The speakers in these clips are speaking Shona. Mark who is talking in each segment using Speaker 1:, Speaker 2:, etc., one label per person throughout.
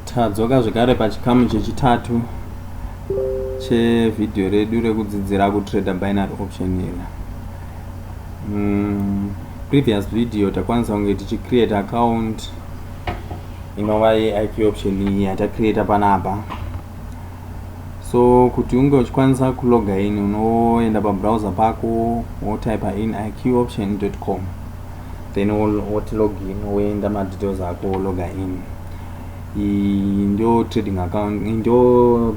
Speaker 1: Tadzoka zvekare pachikamu chechitatu chevhidhiyo redu rekudzidzira kutrader binary option iri. Mm, previous video takwanisa kunge tichicreate account inova yeIQ option iyi yatacreata panapa. So kuti unge uchikwanisa kuloga in unoenda pabrowser pako wotypa in iqoption.com. then woti log in woenda madetails ako wologa in iyi ndio trading account ndio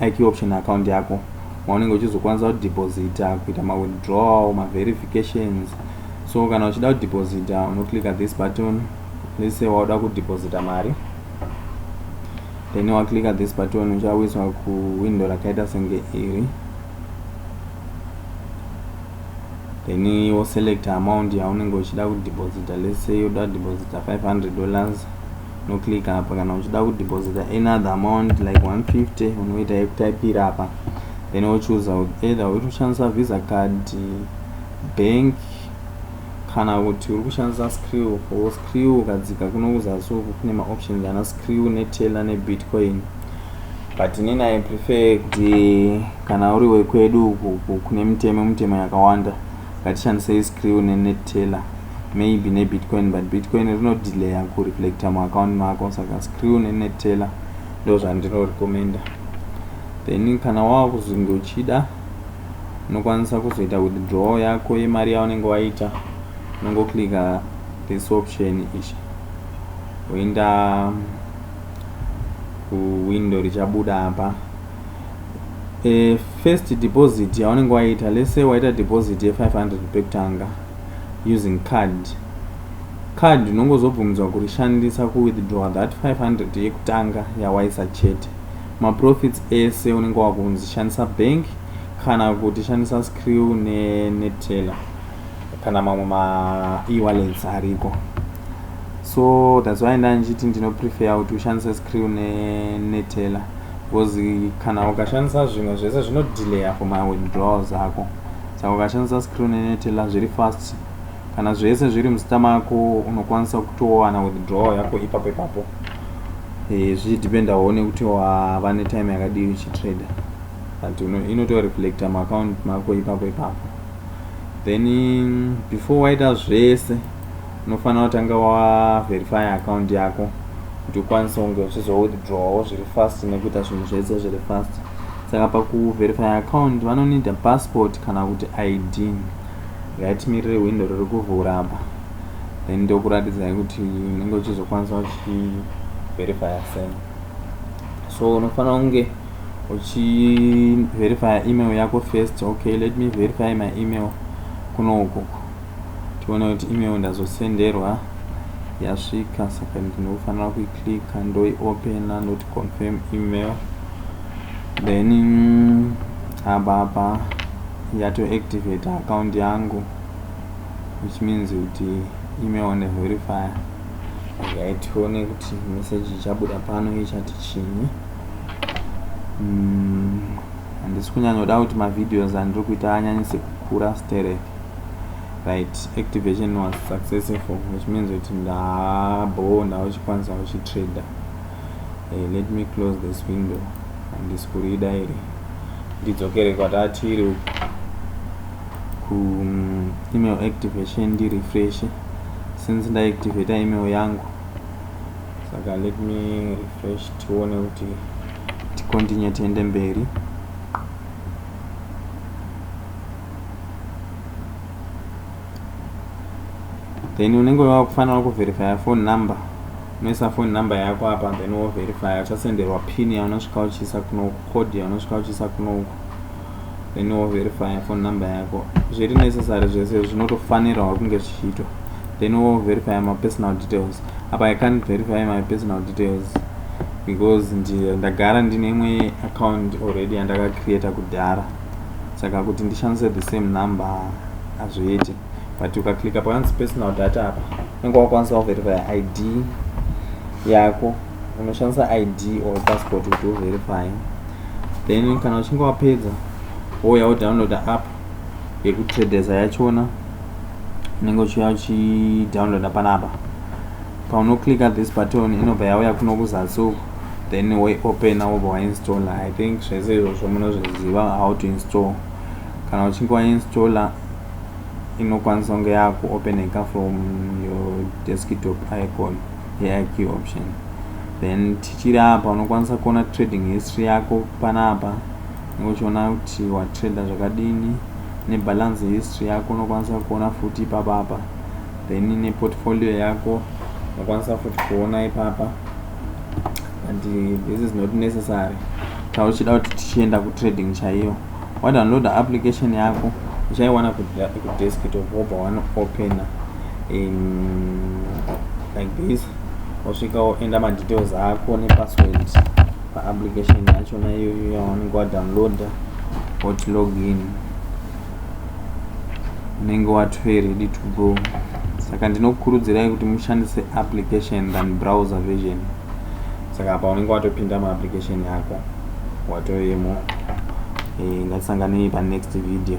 Speaker 1: iq option account yako maunenge uchizokwanisa kudeposita kuita mawithdrawal maverifications so kana uchida kudeposita unoclicka this button let's say wauda kudeposita mari then waclicka this button uchawiswa kuwindow rakaita senge iri then wo select amount yaunenge uchida ku deposita let's say yoda deposita 500 dollars no click apa kana uchida ku deposita any other amount like 150 unoita yekutaipira apa then wochuza either uri kushandisa visa card bank kana kuti uri kushandisa screw wo screw ukadzika kuno kuzasi uku kune maoptions ana screw neteller nebitcoin but inini i prefer kuti Kana uri wekwedu uku kune mitemo mitemo yakawanda ngatishandisei skrill ne net teller maybe ne bitcoin but bitcoin rino delayer ku reflector mu account mako saka skrill ne net teller ndozvandino recommender then kana wava kuzonge uchida unokwanisa kuzoita withdrawal yako yemari yaunenge waita unongoclicka this option ichi woenda kuwindow richabuda apa e, first deposit yaunenge waita lese waita deposit ye500 pekutanga using card card unongozobvumidzwa kurishandisa kuwithdrawa that 500 yekutanga yawaisa chete maprofits ese unenge wakunzi shandisa bank kana kuti shandisa screw neneteller kana mamwe maewallets ariko so that's why ndandichiti ndinoprefer kuti ushandise screw nenetela because kana ukashandisa zvimwe zvese zvinodelayer for my withdrawal zako saka ukashandisa screw nenetela zviri fast kana zvese zviri muzita mako unokwanisa kutowana withdrawal yako ipapo ipapo e, zvichidependawo nekuti wava netime yakadii uchitrader but inotoreflecta maakaunti mako ipapo ipapo then before waita zvese unofanira kutanga waverify account yako kuti ukwanise kunge uchizowithdrawawo zviri fast nekuita zvinhu zvese zviri fast saka pakuverify account vanonida passport kana kuti id ngaitimirire hwindo riri kuvhura apa then ndokuratidzai kuti unenge uchizokwanisa uchiverifya sei so unofanira kunge uchiverifya email yako first okay let me verify my email kuno ukoko tione kuti email ndazosenderwa yasvika saka ndinofanira kuiclicka ndoiopena ndoti confirm email then apa apa yatoactivate account yangu which means kuti email one verifier okay tione kuti message ichabuda pano ichati chinyi mm, handisi kunyanyoda kuti mavideos andiri kuita anyanyise kukura sterek right activation was successful which means kuti ndabhoo ndauchikwanisa kuchitrader hey, eh, let me close this window handisi kurida iri ndidzokere kwatatiri uku ku mm, email activation ndirefreshe since ndaactivata email yangu saka let me refresh tione kuti ticontinue tiende mberi then unenge wava kufanira kuverifya phone number unoisa phone number yako apa then woverifya uchasenderwa pin yaunosvika uchiisa kunoku code yaunosvika uchiisa kunoku then woverifya phone number yako zviri necessary zvese zvinotofanirwa kunge zvichiitwa then woverifya mapersonal details apa i can't verify my personal details because ndagara ndine imwe account already yandakacreata kudhara saka kuti ndishandise the same number hazviiti but ukaclicka pakanzi personal data apa unenge wakwanisa kuverifya id yako unoshandisa id or passport kuti uverifye then kana uchinge wapedza wouya wodownloada app yekutradesa yachona unenge uchiuya uchidownloada panapa paunoclicka this button inobva yauya kuno kuzasi uku then waiopen wobva wainstalla i think zvese izvozvo munozviziva how to install kana uchinge wainstalla inokwanisa kunge yakuopeneka from your desktop icon yeq option then tichiri apa unokwanisa kuona trading history yako panapa uchiona kuti watrader zvakadini nebalance history yako unokwanisa kuona futi ipapapa then neportfolio yako unokwanisa futi kuona ipapa and uh, this is not necessary kana uchida kuti tichienda kutrading chaiyo wadownloada application yako uchaiwana kudesktop wobva wanoopena in like this osvika oenda madetails ako nepassword paapplication yachona iyoyo yawanenge wadownloada wotlogin unenge watove ready to go saka ndinokukurudzirai kuti mushandise application than browser version saka apa unenge watopinda muapplication yako watovemo e, eh, ngatisanganei panext video